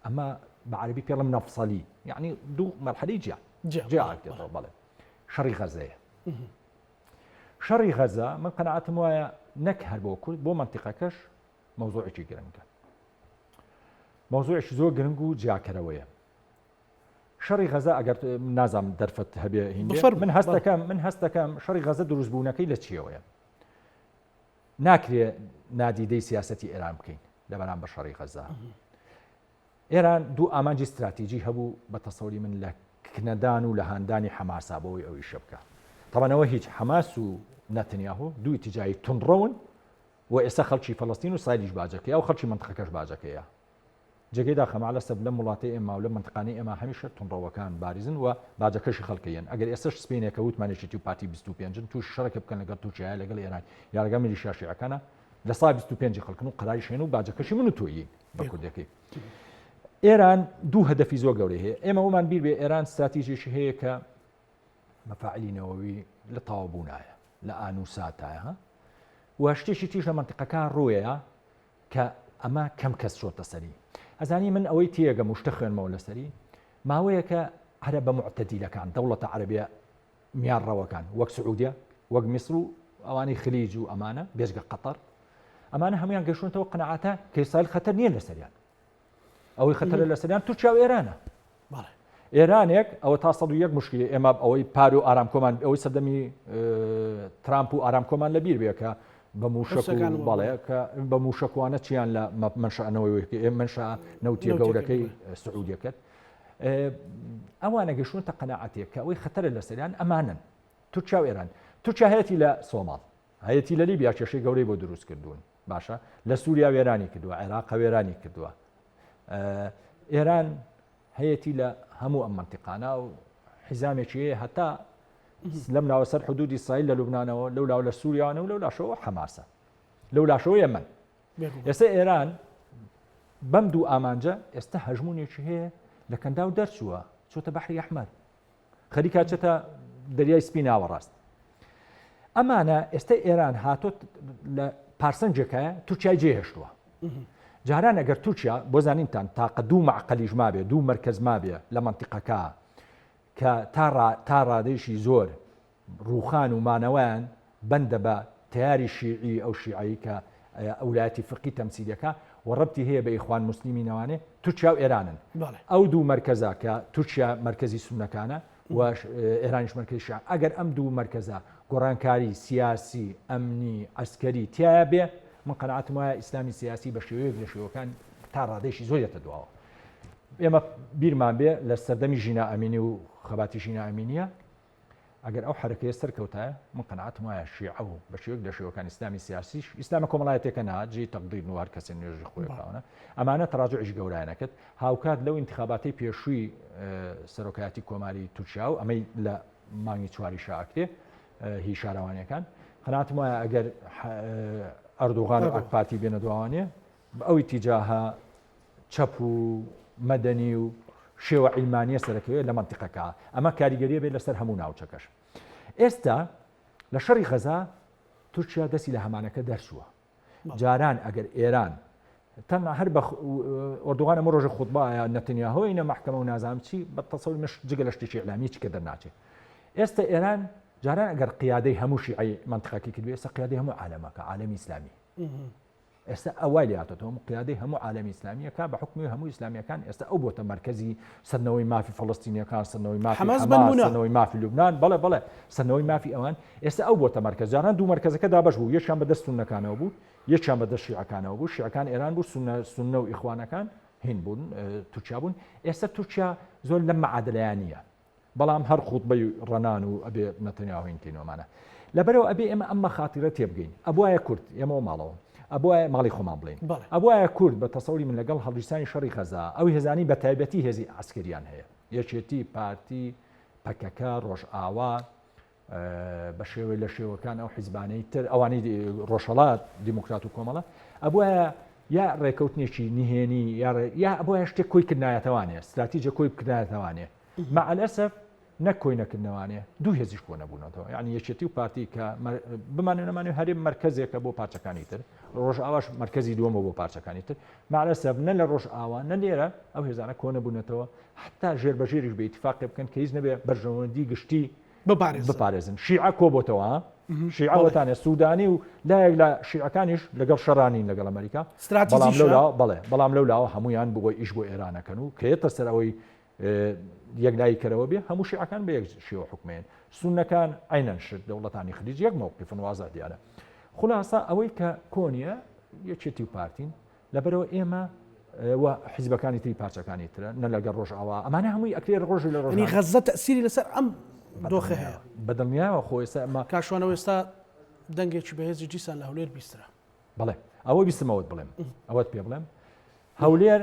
ئەمە بە عەرەبی پێڵم نەفسەلی یعنی دوو مەرحەلی جیا جیاکرێتەوە بەڵێ شەڕی غەزەیە شەڕی غەزە من قەنەعاتم وایە نەک هەر بۆ کورد بۆ منتیقەکەش مەوزوعێکی گرنگە مەوزوعش زۆر گرنگ و جیاکەرەوەیە شەڕی غەزە ئەگەر نازام دەرفەت هەبێ من هەستەکەم من هەستەکەم شەڕی غەزە دروستبوونەکەی لە چیەوەیە ناکرێ نادیدەی سیاسەتی ئێران بکەین لە بەرامبەر شەڕی غەزە. ئێران دوو ئامانجی ستراتیژی هەبوو بە تەسەوری من لە کنەدان و لە هاندانی حەماسا بەوەی ئەوی شە بکە. تەمەنەوە هیچ حەماس و نەتنیاهۆ دووی تجایی تونڕەون و ئێستا خەڵکی فەڵستین و سایدیش باجەکەی ئەو خەڵکی منتخەکەش باجەکەیە جێگەی داخە مەعلەسەف لەم وڵاتەی ئێماو لەم مەنتقانەی ئێمە هەمیشە توندڕەوەکان باریزن و باجەکەشی خەلکەیەن ئەگەر ئێستەش سپینێکە وتمان یەکێتی و پارتی بیست و پێنجن توشی شەرەکێ بکەن لەگەڵ تورکیایە لەگەڵ ئێران یا لەگەڵ میلیشیا شیعەکانە لە سای بیست و پێنجی خەلکن و قەراریش هێن و باجەکەشی من و تۆیین بە کوردەکەی ئێران دوو هەدەفی زۆر گەورەی هەیە ئێمە ومان بیر بێ ئێران استراتیژێکی هەیە کە مەفاعلی نەوەوی لە تاوابوونایە لە ئانوساتایە و شتێکی تیش لە منتقەکە ڕوەیە کە ئەمە کەم کەس چۆتە سەری ئەزانی من ئەوەی تێگەم و شتە خوێنمەوە لەسەری ماوەیەکە عرە بە معتەدیلەکان دەوڵەتە عەربیە میارڕەوەکان وەک سعودیە وەک میسر و ئەوانی خلیج و ئەمانە بێژگە قەتەر ئەمانە هەمویان گەشتونەوە قەنەعاتە کەسایل خەتەر نییە لەسەریان ئەوەی خەتەرە لەسەریان تورکیا و ئێرانە ئێرانێک ئەوە تا 101 مشکلی ئێمە ئەوەی پار و ئارامکۆمان ئەوەی سەردەمی ترامپ و ئارامکۆمان لەبییر بێکە بە موشەکان باڵێ کە بە موشەکوانە چیان لە منشانەوەی ئێ منشا نەوتە گەورەکەی سعودیەکەت ئەوانە گەشون تە قەنەعاتێک کە ئەوەی خەتەرە لەسەریان ئەمانن تورکیا و ئێران تورکیا هەیەی لە سۆماڵ هەیەی لە لیبیا کێشەی گەورەی بۆ دروست کردوون باشە لە سووریا وێرانی کردووە عێراق وێرانی کردووە ئێران هەیەتی لە هەموو ئەم منتیقانە و حیزامێکی هەتا لەم ناوە سەر حدودی سایل لە لوبناانەوە لەو لاو لە سووریانە و لەو لاشەوە حەماسە لەو لاشەوە یەمن ئێستا ئێران بەم دوو ئامانجە ئێستا هەژمونێکی هەیە لە کەنداو دەرچووە چۆتە بەحری ئەحمەد خەریکە چێتە دەریای سپی ناوەڕاست ئەمانە ئێستا ئێران هاتۆت لە پارسەنجێکە تورکای جێهێشتووە جاران ئەگەر تورکیا بۆ زانینتان تاقە دوو معقلیش مابێ دوو مرکز مابێ لە منتیقەکە کە تا ڕادێکی زۆر ڕووخان و مانەوەیان بەندە بە تەیاری شیعی ئەو شیعەی کە ئەولایەتی فقی تەمسیل دەکا و ڕەبتی هەیە بە ئیخوان موسلیمینەوانێ تورکیا و ئێرانن ئەو دوو مەرکەزە کە تورکیا مەرکەزی سونەکانە و ئێرانیش مەرکەزی شیعە ئەگەر ئەم دوو مەرکەزە گۆڕانکاری سیاسی ئەمنی عسکەری تایە بێ من قەنعاتم وایە ئیسلامی سیاسی بە شێوەیەک لە شێوەکان تا ڕادێکی زۆر دێتە دواوە ئێمە بیرمان بێ لە سەردەمی ژینا ئەمینی و خەباتی ژینا ئەمینە ئەگەر ئەو حەرەکەیە سەرکەوتایە، من قەناعەتم وایە شیعە و بە شێوەیەک لە شێوەکانی ئیسلامی سیاسیش، ئیسلامە کۆمەڵایەتیەکە نا، جێی تەقدیر نیە و هەر کەسێ نوێژی خۆی بکا، ئەمانە تەراجوعیش گەورایان ئەکرد، هاوکات لەو ئینتخاباتەی پێشووی سەرۆکایەتی کۆماری تورکیا و ئەمەی لە مانگی چواریشا ئەکرێ هی شارەوانیەکان، قەناعەتم وایە ئەگەر ئەردوغان و ئاکپارتی بێنە دواوانێ، بە ئەو ئیتیجاهە چەپ و مەدەنی و شێوە عیلمانیە سەرەکیە لە مەنتیقەکە ئەمە کاریگەریە بێت لەسەر هەموو ناوچەکەش ئێستا لە شەڕی غەزا تورکیا دەستی لە هەمانەکە دەرچووە جاران ئەگەر ئێران تەم هەر بە ئۆردوغان ئەمە ڕۆژە خودبایە نەتنیا هۆی نە محکەمە و نازام چی بە تەسەوی مش جگە لە شتێکی ئەلامی چکە دەرناچێت ئێستا ئێران جاران ئەگەر قیادەی هەمووشی ئەی منتخەکی کردو ئێستا قیادی هەموو عالەمەکە عالەمی ئیسلامی ئێستا ئەوای لاتۆ هەموو قیادەی هەموو عالمی ئسلامیەکە بە حکمی هەموو ئسلامیەکان ئێستا ئەو بۆتە مرکزی سەرنەوەی مافی فلستینیەکان سەرنەوەی مافیەوەی مافی لوبناان بەڵێ بڵێ سەرنەوەی مافی ئەوان ئێستا ئەو بۆتە مرکز جاران دوو مرکزەکە دابش بوو یەکیان بەدەست سونەکانەوە بوو یەکیان بەدە شیعەکانەوە بوو شیعەکان ئێران بوو سونە سونە و ئیخوانەکان هین بوون تورکیا بوون ئێستا تورکیا زۆر لە مەعادلەیان نیە بەڵام هەر خوتبەی ڕەنان و ئەبێ نەتەنیاهۆ هین کەینەوە مانا لەبەرەوە ئەبێ ئێمە ئەم مەخاتیرە تێبگەین ئەبوایە کورد ئێمەوە ماڵەوە ئەبوایە ماڵی خۆمان بڵین ئەبوایە کورد بە تەسەوری من لەگەڵ هەڵگیرسانی شەڕی غەزا ئەو هێزانی بە تایبەتی هێزی عسکەریان هەیە یەکێتی پارتی پەکەکە ڕۆژئاوا بەشێوەی لە شێوەکان ئەو حیزبانەی تر ئەوانی ڕۆژهڵات دیموکرات و کۆمەڵە ئەبە یا ڕێکەوتنێکی نهێنی یا بۆ شتێ کۆی کردایەتەوانێ استراتیجە کۆی بکردایەتەوانێ مەعلەسەف نەک کۆی نەکردنەوانێ دوو هێزیش کۆ نەبوونەوە یعنی یەکێتی و پارتی کە بمانێ نەمانێ هەرێم مرکزێکە بۆ پارچەکانی تر ڕۆژ ئاواش مرکزی دووەمە بۆ پارچەکانی تر مەعلەسەف نە لە ڕۆژ ئاوا نە لێرە ئەو هێزانە کۆ نەبوونەتەوە حتا ژێر بەژێریش بە اتفاقی بکەن کە هیچ نەبێ بەرژەوەندی گشتی بپارێزن شیعە کۆبۆتەوە شیعە وەتانە سوودانی و لایەک لە شیعەکانیش لەگەڵ شەرانین لەگەڵ ئەمریکا بەڵێ بەڵام لەو لاوە هەمویان بگۆی ئیش بۆ ئێرانەکەن و کێتە سەر ئەوەی یەکلایی کەرەوە بێ هەموو شیعەکان بە یەک شێوە حکومێن سونەکان عینەن شت دەوڵەتانی خلیج یەک مەوقیفن وازە دیارە خلاصە ئەوەی کە کۆنیە یەکێتی و پارتین لەبەرەوە ئێمە و حزبەکانی تری پارچەکانی ترە نە لەگەر ڕۆژاوا ئەمانە هەمووی ئەکرێ ڕۆژی لە ڕۆژی غەزە تەسیری لەسەر ئەم دۆخە هەیە بەدڵنیاوە خۆێستا ئەمە کاشوانە ئێستا دەنگێکی بەهێزی دیسان لە هەولێر بیسترا بڵێ ئەوە بیستمەوەت بڵێم ئەوەت پێ بڵێم هەولێر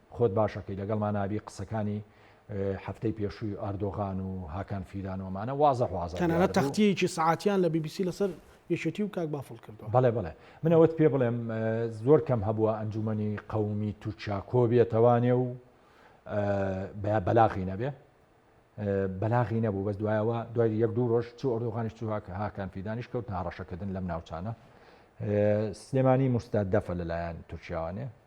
خۆت باشەکەی لەگەڵمان ئابی قسەکانی هەفتەی پێشووی ئاردۆغان و هاکان فیدان و ئەمانە وازە وازە دیار بوو. تەنانەت تەختییەکی سەعاتیان لە بی بی سی لەسەر یەکێتی و کاک بافڵ کردووە. بەڵێ بەڵێ. من ئەوەت پێ بڵێم زۆر کەم هەبووە ئەنجوومەنی قەومی تورکیا کۆ بێتەوانێ و بەلاغی نەبێ. بەلاغی نەبوو بەس دوایەوە دوای یەک دوو ڕۆژ چوو ئەردۆغانیش چوو هاکان فیدانیش کەوتنە هەڕەشەکردن لەم ناوچانە. سلێمانی مستهدفە لەلایەن تورکیاوانێ.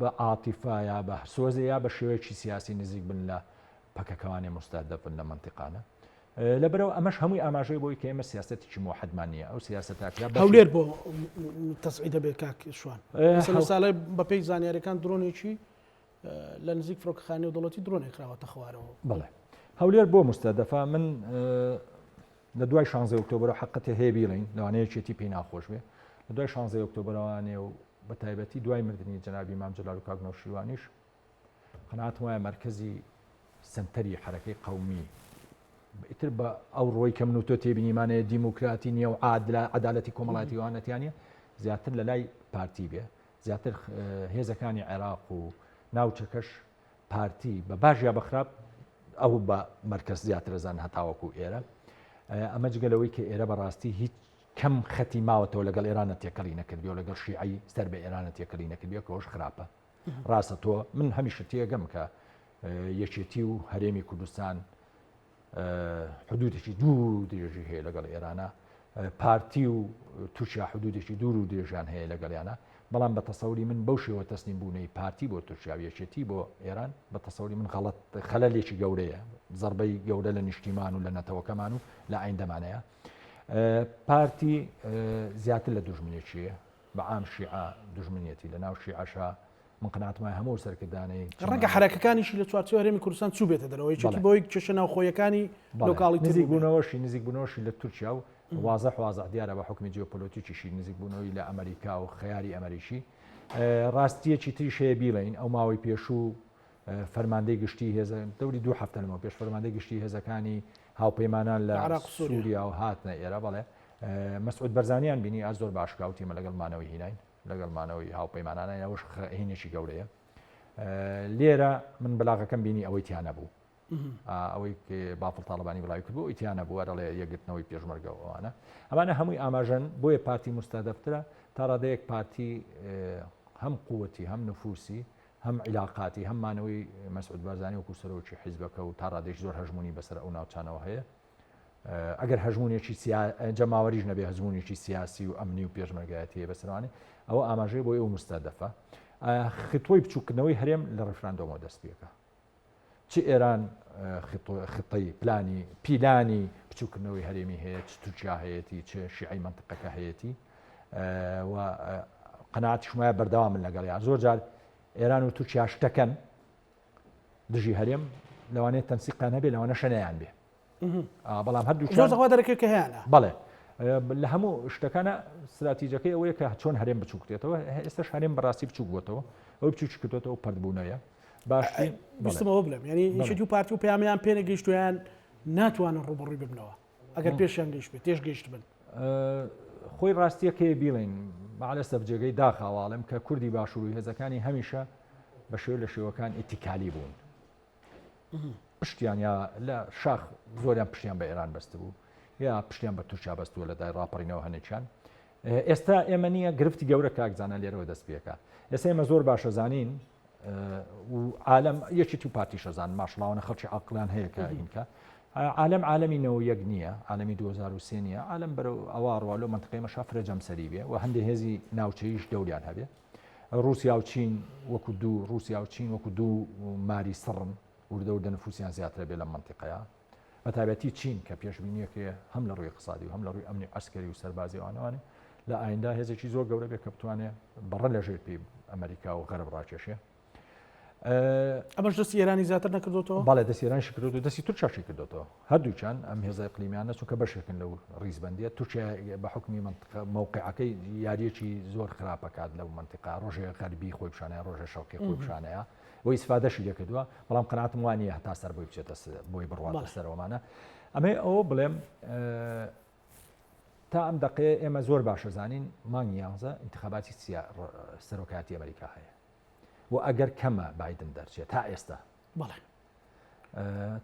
بە عاتیفە یا بە سۆزێ یا بە شێوەیەکی سیاسی نزیک بن لە پەکەکەوانێ مستهدف بن لە منتیقانە لەبەرەوە ئەمەش هەمووی ئاماژەی بۆی کە ئێمە سیاستێکی مۆحدمان نیە ئەو سیاست تاکرا هەولێر بۆ تەسعی دەبێت کاک شوان ساڵی بەپی زانیارەکان درۆنێکی لە نزیک فرۆکخانی و دەڵەتی درۆنێکراوەتە خوارەوە بڵێ هەولێر بۆ مستەدەفا من لە دوای شانزەی ئۆکتۆبەرەوە حەقەتێ هەیە بیڵین لەوانەیە یەکێتی پێی ناخۆش بێ لە دوای شانزەی ئۆکتۆبەرەوانێ و بە تایبەتی دوای مردنی جنابی مام جلال و کاک نەوشیروانیش قەنات وایە مرکزی سنتەری حرەکەی قومی ئیتر بە ئەو ڕۆی کە من و تۆ تێبینیمانەیە دیموکراتی نیە و عادلا عدالەتی کۆمەڵاتی وانەتیانە زیاتر لە لای پارتی بێ زیاتر هێزەکانی عێراق و ناوچەکەش پارتی بە باش یا بەخراپ ئەو بە مەرکز زیاترەزان هەتاوەکو ئێرە ئەمە جگەلەوەی کە ئێرە بەڕاستی هیچ کەم خەتی ماوەتەوە لەگەڵ ئێرانە تێکەڵی نەکردی و لەگەڵ شیعی سەر بە ئێرانە تێکەڵی نەکردی کەەوەش خراپە ڕاستە تۆ من هەمیشە تێگەم کە یەکێتی و هەرێمی کوردستان حدودێکی دوور و درێژی هەیە لەگەڵ ئێرانە پارتی و تورکیا حدودێکی دوور و درێژان هەیە لەگەڵیانە بەڵام بە تەسەوری من بەو شێوە تەسنیم بوونەی پارتی بۆ تورکیا و یەکێتی بۆ ئێران بە تەسەوری من غەڵت خەلەلێکی گەورەیە زربەی گەورە لە نیشتیمان و لە نەتەوەکەمان و لە ئایندەمانەیە پارتی زیاتر لە دژمنێکیە بە عام شیعە دوژمنیەتی لە ناو شیعەشا من قەناعەتم وایە هەموو ئەو سەرکردانەی ڕەنگە چەماوە حەرەکەکانیشی لە چوارچێوەی هەرێمی کوردستان چووبێتە دەرەوە یەکێتی بەڵێ. بەوەی کێشە ناوخۆیەکانی بەڵێ. لۆکاڵی تر نزیک بووبێ. بوونەوەشی نزیک بوونەوەشی لە تورکیا و وازح وازح دیارە بە حوکمی جیۆپۆلۆتیکیشی نزیک بوونەوەی لە ئەمەریکا و خەیاری ئەمەریکی ڕاستیەکی تریش هەیە بیڵێین ئەو ماوەی پێشوو فەرماندەی گشتی هێزە دەوری دوو هەفتە لەمەوە پێش فەرماندەی گشتی هێزەکانی هاوپەیمانان لە عراق سووریا و هاتنە ئێرە بەڵێ مەسعود بەرزانیان بینی ئە زۆر باشکاوتیمە لەگەڵ مانەوەی هیناین لەگەڵ مانەوەی هاوپەیمانانە یاوەش هینێکی گەورەیە لێرە من بلاغەکەم بینی ئەوەی تیانە بوو ئەوەی بافڵ تاالبانی بڵاوی کرد بۆ ئیتیانە بووە دەڵێ یەگرتنەوەی پێشمەرگە ئەوانە ئەمانە هەمووی ئاماژەن بۆیە پارتی مستادەفترە تا ڕادەیەک پارتی هەم قوتی هەم نفوسی هەم عیلاقاتی هەم مانەوەی مەسعود بارزانی وەکو سەرۆکی حیزبەکە و تا ڕادێش زۆر هەژمونی بەسەر ئەو ناوچانەوە هەیە ئەگەر هەژمونێکی جەماوەریش نەبێ هەزمونێکی سیاسی و ئەمنی و پێشمەرگایەتیە بەسەروانی ئەوە ئاماژەی بۆ ئێو مستە دەفە خطۆی بچووکردنەوەی هەرێم لە ڕفراندۆمەوە دەست پێەکە چ ئێران خطەی پلانی پیلانی بچووکردنەوەی هەرێمی هەیە چ تورکیا هەیەی چ شیعی منطقەکە هەیەی و قەنات شمای بەردەوا من لەگەڵ یا زۆر جار ئێران و تورکیا شتەکەن دژی هەرێم لەوانێت تەنسیقان هەبێ لەوانە شەنیان بێ بەڵام هەردوو زۆر دەخوا دەرەکە کە هەیەە بەڵێ لە هەموو شتەکانە استراتیجەکەی ئەوەیە کە چۆن هەرێم بچووکێتەوە ئێستش هەرێم بەڕاستی بچوک بووتەوە ئەو بچوکی کردێتەوە پردبوونەیە باشی بستمەوە بڵێم ینی یشتی و پارتی و پامیان پێنە گەیشتویان ناتوانن ڕوبڕوی ببنەوە ئەگەر پێشیان گەیشت بێت تێش گەیشت بن خۆی ڕاستیەکەی بیڵین مالە سەفجێگەی داخاواڵم کە کوردی باشووری هێزەکانی هەمیشە بە شێو لە شێوەکان ئیتیکالی بوون پشتیان یا لە شاخ زۆریان پشتیان بە ئێران بەستبوو یا پشتیان بە تورکیا بەستووە لە دای ڕاپەڕینەوە هەنێکیان ئێستا ئێمە نییە گرفتی گەورە کاکزانە لێرەوە دەست پێەکە ئێستا ئێمە زۆر باشە زانین و عالم یەکی تو پارتی شەزان ماشڵاوانە خەڵکی عقلان هەیە کە ئینکە عالم عالمی نەوە یەک نییە عالمی 2023 نیە عالم بەرە ئەوە ڕوا لەو منتقی مەشافرە جەمسەری بێ و هەندێک هێزی ناوچەیش دەوریان هەبێ ڕوسیا و چین وەکو دوو ڕوسیا و چین وەکو دوو ماری سڕن وردە وردە نفوسیان زیاترە بێ لە منتیقەیە بە تابەتی چین کە پێشببینیەکرێ هەم لە ڕووی قسادی و هەم لە ڕووی ئەمنی ئەسکەری و سەربازیوانوانێ لە ئایندا هێزێکی زۆر گەورە بێ کە بتوانێ بەڕە لە ژێر پێی ئەمریکا و غەرب ڕاکێشێ ئەمەش دەست ئێرانی زیاتر نەکردوەوە بەڵێ دەست ئێران شکرد و دەستی تورکشی کردوەوە هەردووچان ئەم هێزای قلیمیانە چونکە بەشێکن لەو ڕیزبندیە تورکیا بە حکمی منطقە مووقعەکەی یاریەکی زۆر خراپەکات لەو منطقا ڕۆژێ غەربی خۆی پیششانە ڕۆژە شەوقی خۆی پیششانەیە بۆ ئیسفادەشی لەکردووە بەڵام قەناتم وانە هەتا سەر بۆی بچێتە بۆی بڕواتە سەرەوەمانە ئەمەی ئەوە بڵێم تا ئەم دقەیە ئێمە زۆر باشە زانین مانگ یانزە انتخاباتی سەرۆکاتی ئەمریکا هەیە و ئەگەر کەمە بادن دەرچێت تا ئێستا بەڵێ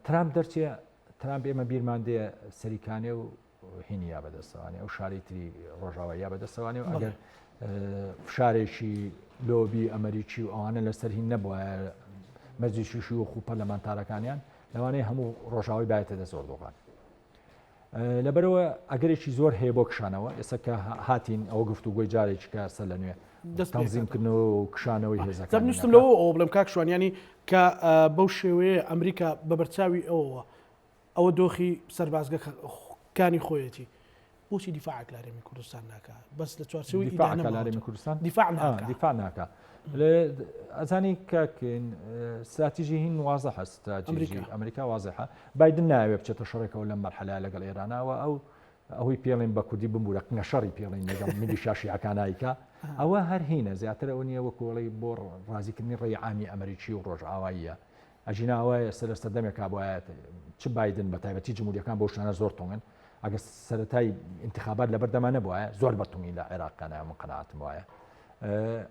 ترامپ دەرچێ ترامپ ئێمە بیرمان دێ سەریکانێ و هینیا بەدەستەوانی ئەو شاری تری ڕۆژاواییا بەدەستەوانی و ئەگەر فشارێکی لۆبی ئەمریکی و ئەوانە لەسەر هین نەبووە مەزیشیشی و خوپەرلەمانتارەکانیان لەوانەیە هەموو ڕۆژاوی باێتە دە زۆر دۆغان لەبەرەوە ئەگەرێکی زۆر هەیە بۆ کشانەوە ئێستا کە هاتین ئەو گفت و گۆی جارێکی کە سەر لە نوێ دەستزیمکردن و کشانەوەی هێزەکان نیشتم لەوە ئەو بڵم کاکشوانیانی کە بەو شێوەیە ئەمریکا بە بەرچاوی ئەوەوە ئەوە دۆخی سەربازگە کانی خۆیەتی بۆچی دیفاعکلارێمی کوردستان ناکە بەس لە چوارچەوەی دیفاعکلارێمی کوردستان دیفاع دیفاع ناکە ئەزانی کاکن ساتیژی هین وازە هەستاجی ئەمریکا وازەحە بادن ناوێ بچێتە شەڕێکەوە لەم مەرحەلا لەگەڵ ئێرانەوە ئەو ئەوەی پێڵێن بە کوردی بمبورە قنە شەڕی پێڵین لەگەڵ ملی شاشیەکانایکە ئەوە هەر هینە زیاتر ئەو نیە وە کۆڵی بۆ ڕازیکردنی ڕێی عامی ئەمریکی و ڕۆژئاواییە ئەگینا ئەوە ئێستا لە سەردەمێکا بوایە چ بایدن بە تایبەتی جمهوریەکان بۆ شانە زۆر تونگن ئەگە سەتای انتخابات لەبەر دەمانە بواە زۆر بەتونی لە عێراقکانە من قەناتم وایە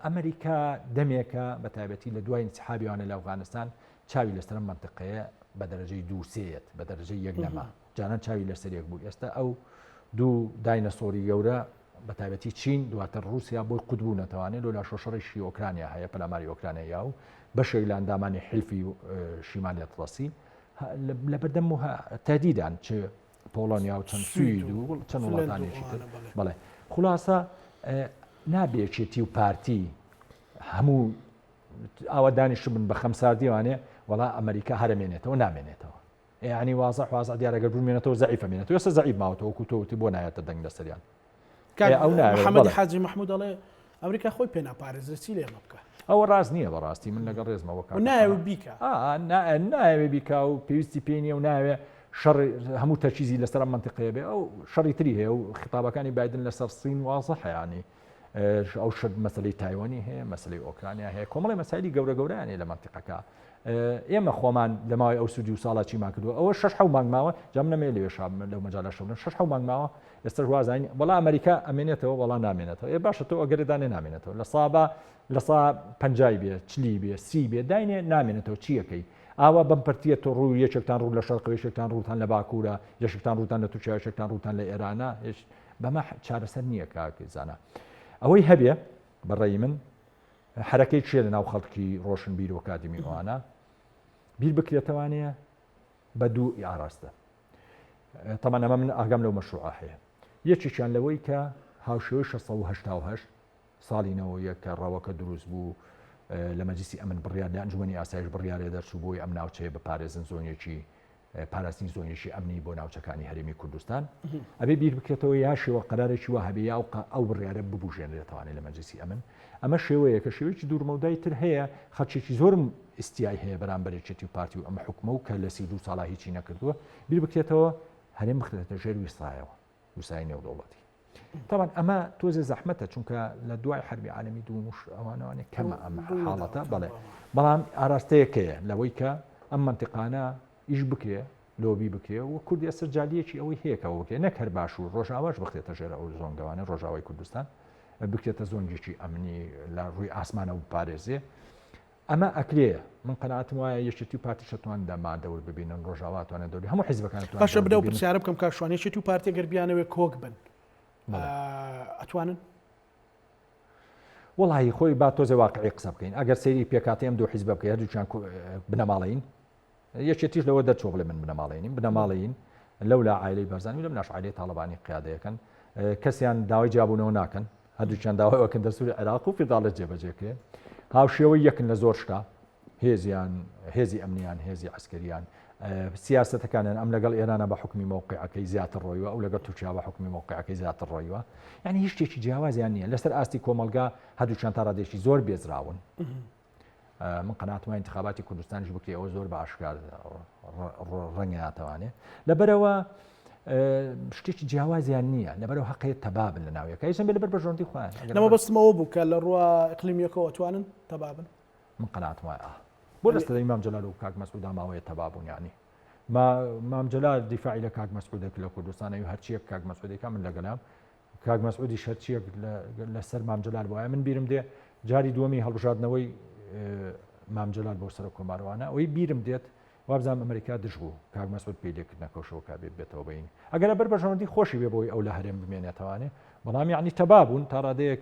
ئەمریکا دەمێکە بە تایبەتی لە دوای انتحابیانە لە ئەفغانستان چاوی لەسەر منطقەیە بە دەرەجەی دووسێت بە دەرەجەی یەک نەما جانان چاوی لەسەر یەک بوو ئێستا ئەو دوو داینەسۆری گەورە بەتایبەتی چین دواتر ڕوسیا بۆی قوت بوو نەتەوانێ لۆ لاشۆ شەڕیشی ئۆکرانیا هەیە پەلاماری ئۆکرانیا یا و بەشێک لە ئەندامانی حلفی شیمالی ئەتڵەسی لە بەردەم تادیدان چ پۆڵۆنیا و چەند سوید و چەند وڵاتانێکی تر بڵێ خلاصە نابێچێتی و پارتی هەموو ئاوا دانیش من بە خەمساردیوانێ وڵا ئەمریکا هەرمێنێتەوە نامێنێتەوە یەعنی وازع وازع دیارە گەر بمێنێتەوە زەعیفە مێنێتەوە ئێستا زەعیف ماوەتەوە وەکو تۆ وتی بۆ نایەتە دەنگ لەسەریان کاک ئەو نایەت، محەممەدی بەڵێ. حاجی محمود دەڵێ ئەمریکا خۆی پێ ناپارێزرێ چی لێمە بکە ئەوە ڕاست نییە بەڕاستی من لەگەڵ ڕێزمەوە کاکە نایە قەنات. بیکە ئا، نا- نایەوێ بیکا و پێویستی پێی نییە و نایەوێ شەڕ هەموو تەرکیزی لەسەر ئەم منتیقەیە بێ ئەو شەڕی تری هەیە و خیتابەکانی بایدن لەسەر سین وازحە یانی ئەو شت مەسلی تایوەنی هەیە مەسلی ئۆکرانیا هەیە کۆمەڵی مەسایلی گەورە گەورانێ لە منتیقەکە ئێمە خۆمان لە ماوەی ئەو سودی و ساڵا چیمان کردو ئەوە شش حو مانگماوە جام نەمێ لێ شام لەو مەجاالە شەون شش حو مانگماوە ئێستا وازین بەڵا ئەمریکا ئەمێنێتەوە بەڵا نامێنێتەوە ئێ باشە تۆ ئەگەردانێ نامێنێتەوە لە سابا لە سا پنجای بێ چلی بێ سی بێ داینێ نامێنێتەوە چیەکەی ئاوا بم پرتیە تۆ ڕوو یەکێکتان ڕوو لە شەرقەوەشێکتان ڕووتان لە باکوورە یەشتان ڕووتان لە تورکیاشێکتان ڕووتان لە ئێرانە بەمە چارەسەر نییە کاک زانا ئەوەی هەبێ بەڕێی من حرەکەی چێ لە ناو خەڵکی ڕۆشن بیر و کادمی ئەوانە بیر بکرێتەوانەیە بە دوو ئاراستە تەمان ئەمە من ئاگام لەو مەشروع هەیە یەکێکیان لەوەی کە هاوشێوەی 16 ساڵینەوە یە کە ڕەوەکە دروست بوو لە مەجلسی ئەمن بڕیار لە ئەنجومی ئاسایش بڕیارێ دەرچوو بۆی ئەم ناوچەیە بە پارێزن زۆنیەکی پاراستنی زۆنیشی ئەمنی بۆ ناوچەکانی هەرێمی کوردستان ئەبێ بیر بکرێتەوە یا شێوە قەرارێکی وە هەبێ یا ئەو بڕیاە ببژێنرێتوانێ لە مەجلسی ئەمن ئەمە شێوەیەکە شێوەیەکی دوورمەودای تر هەیە خەچێکی زۆرم ئستیای هەیە بەرامبەرێکێتی و پارتی و ئەم حکومە و کە لە سی دو ساڵا هیچی نەکردووە بیر بکرێتەوە هەرێم بخرێتە ژێر ویستایەوە وسای نێودەوڵەتی تاوان ئەمە تۆزێ زەحمەتە چونکە لە دوای حربی عالمی دوومش ئەوانوانێ کەمە ئەم حاڵەتە بڵێ بەڵام ئاراستەیەکەیە لەوەی کە ئەم منتیقانە ئیش بکرێ لۆبی بکرێ و کورد ئێستا جالیەکی ئەوەی هەیەکەوە بکرێ نەک هەر باش و ڕۆژاواش بخێتە ژێرە ئەو زۆنگەوانە ڕۆژاوای کوردستان بکرێتە زۆنگێکی ئەمنی لە ڕووی ئاسمانەوە پارێزێ ئەمە ئەکرێ من قەناعەتم وایە یەکێتی و پارتیش ئەتوان دەما دەور ببینن ڕۆژاوا ئەتوانێ دەوری هەموو حیزبەکان ئەتوان باشە برا و پرسیارە بکەم کاک شوان یەکێتی و پارتی گەر بیانەوێ کۆک بن ئەتوانن وڵی خۆی با تۆزێ واقعی قسە بکەین ئەگەر سەیری پێکاتی ئەم دوو حیزب بکە هەردووچیان بنەماڵەین یەکێتیش لەوە دەرچووە بڵێ من بنەماڵەی نیم بنەماڵەیین لەولا عیلی بەرزانی لەم ناش عیلی تاالبانی قیادەکەن کەسیان داوای جیابوونەوە ناکەن هەردووچیان داوایەکەن دەسووری عێراق و فیداڵێت جێبەجێکرێ هاوشێوە یەکن لە زۆر شتا هێزیان هێزی ئەمنیان هێزی عسکەریان سیاستەکانیان ئەم لەگەڵ ئێرانە بە حکمی مووقعەکەی زیاتر ڕۆیوە ئەو لەگەڵ تورکیا بە حکمی مووقعەکەی زیاتر ڕۆیوە یعنی هیچ شتێکی جیاوازیان نییە لەسەر ئاستی کۆمەلگا هەردووچیان تاڕادێکی زۆر بێزراون من قەناتمە انتخاباتی کوردستانیش بکری ئەوە زۆر بە ئاشکار ڕەنگە ناتوانێت لەبەرەوە شتێکی جیاوازیان نییە لەبەرەوە هەقەیە تەبابن لە ناویەکە ئیسم بێ لەبەر بەژۆندی خۆیان لەمە بەستمەوە بوو کە لە ڕوە اقلیمیەکەەوە توانن تەبابن من قەنات وایە بۆ لەستە ئیمام جلال و کاک مەسعودا ماوەیە تەبابوون ینی مام جلال دیفاعی لە کاک مەسعودێک لە کوردستانەوی هەرچیەک کاک مەسعودێکە من لەگەلام کاک مەسعودی شەرچیەک لەسەر مامجلال بۆە من بیرم دێ جاری دووەمی هەڵبژاردنەوەی مامجلال بۆ سەر کۆماروانە ئەوەی بیرم دێت وابزانام ئەمریکا دژ بوو کاک مەسعود پێی لێکردنەکەشەوە کا بێت بێتەوە بین ئەگەر بەر بەژەوەندی خۆشی بێ بۆی ئەو لە هەرێم بمێنێتەوانێ بەڵام یعنی تەبابوون تا ڕادەیەک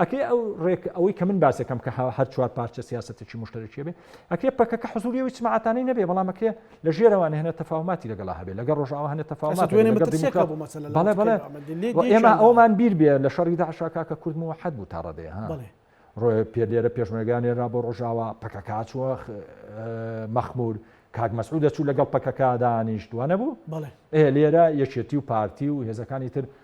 ئەکرێ ئەو ڕێک ئەوەی کە من باسەکەم کە هەر چوار پارچە سیاسەتێکی مشتەرەکی بێ ئەکرێ پەکەکە حزوری و سماعتانەی نەبێ بەڵام ئەکرێ لە ژێرەوانە هێنە تەفاوماتی لەگەڵا هەبێ لەگە ڕۆژاوە هەنە تەفاومات ئێمە ئەومان بیر بێ لە شەڕی داعشاکە کە کورد و حەد بوو تا ڕەدێ ها ڕۆێ پێ لێرە پێشمەگانێرا بۆ ڕۆژاوە پەکەکە چووە مەخمور کاک مەسعود دەچوو لەگەڵ پەکەکە دانیشتووە نەبوو بەڵێ ئێ لێرە یەکێتی و پارتی و هێزەکانی تر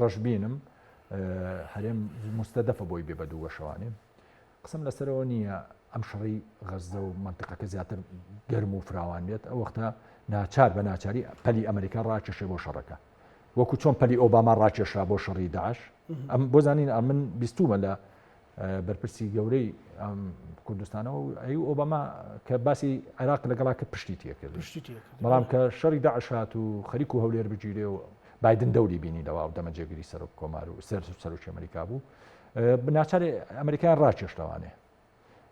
ڕەشبینم هەرێم مستەدەفە بۆی بێ بە دوو بەشەوانێ قسم لەسەرەوە نییە ئەم شەڕی غەزدە و منتقەکە زیاتر گەرم و فراوان بێت ئەو وەختە ناچار بە ناچاری پەلی ئەمریکا ڕاکێشێ بۆ شەڕەکە وەکو چۆن پەلی ئۆباما ڕاکێشا بۆ شەڕی داش ئەم بۆ زانین ئەمن بیستومە لە بەرپرسی گەورەی کوردستانەوە ئەی ئۆباما کە باسی عێراق لەگەڵا کە پشتی تێکرد بەڵام کە شەڕی داعشات و خەریک و هەولێر بگیرێ و بادن دەوری بینی لەوا و دەمە جێگیری سەرۆک کۆمار و سەر سەرۆکی ئەمریکا بوو بناچارێ ئەمریکایان ڕاکێشتەوانێ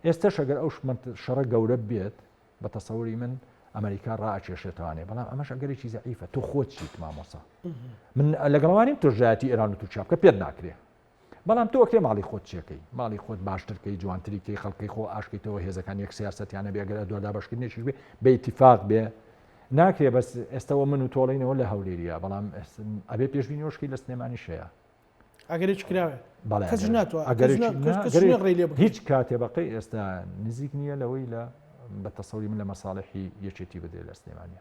ئێستا شەگەر ئەو شمن شەڕە گەورە بێت بە تەسەوری من ئەمریکا ڕاکێشێتوانێ بەڵام ئەمەش ئەگەرێکی زعیفە تۆ خۆچیت مامۆسا من لەگەڵوانیم تۆژایەتی ئێران و تورکیا بکە پێت ناکرێ بەڵام تۆ ئەکرێ ماڵی خۆت چێکەی ماڵی خۆت باشترکەی جوانتری کەی خەڵکی خۆ ئاشکیتەوە هێزەکان یەک سیاستیانە بێگەر ئەدووە دابشکردنیشی بێ بە اتفاق بێ ناکرێ بەس ئێستەوە من و تۆڵینەوە لە هەولێریە بەڵام ئەبێ پێشبینی وشکی لە سلێمانی شەیە ئەگەری چکراوێ هیچ کاتێ بەقی ئێستا نزیک نییە لەوەی لە بە تەسەڵی من لە مەساڵحی یەکێتی بدرێت لە سلێمانە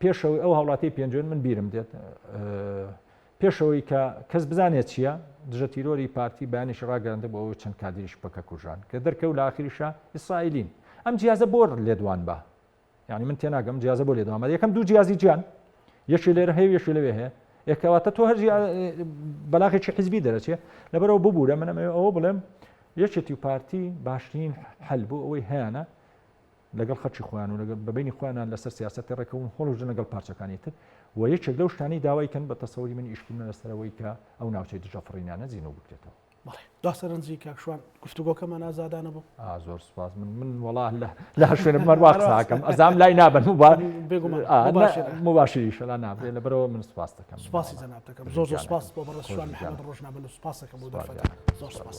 پێشەوەی ئەو هاوڵاتی پێنجوێن من بیرم دێت پێشەوەی کە کەس بزانێت چییە دژە تیرۆری پارتی بەیانیش ڕاگەرندە بۆ ئەوەی چەند کادریش پەکە کوژان کە دەرکەوت لە ئاخریشە ئیسرائیلین ئەم جیازە بۆ لێدوان بە یعنی من تێناگەم جیازە بۆ لێدوان بە یەکەم دوو جیازی جیان یەکی لێرە هەیە یەکی لەوێ هەیە ئێکەواتە تۆ هەرجی بەلاغێکی حزبی دەرەچێ لەبەرەوە ببوورە منەمە ئەوە بڵێم یەکێتی و پارتی باشترین حل بوو ئەوەی هەیەە لەگەڵ خەرچی خۆیان و لەگەڵ بەبینی خۆیانان لەسەر سیاستی ڕێکەون هۆڵژن لەگەڵ پارچەکانی تر و یەکێک لەو شتانی داوایکەن بە تەسەوری من ئیشکردن لەسەرەوەی کە ئەو ناوچەی دژە فڕینانە زیینەوە بکرێتەوە دا سەرنجی کاکشوان گفتوگۆکەمان ئازادانە بوو زۆر سپاس من من وڵا لە لا شوێنە بمەر واقساکەم ئەزام لای نابن مباشری شەلا نابێ لە بەرەوە من سپاس دەکەم سپاسی جەنابەکەم زۆر زۆر سپاس بۆ بەڕێ شوان ڕۆژنامە سپاسەکەم بۆ دەفەکە زۆر سپاس.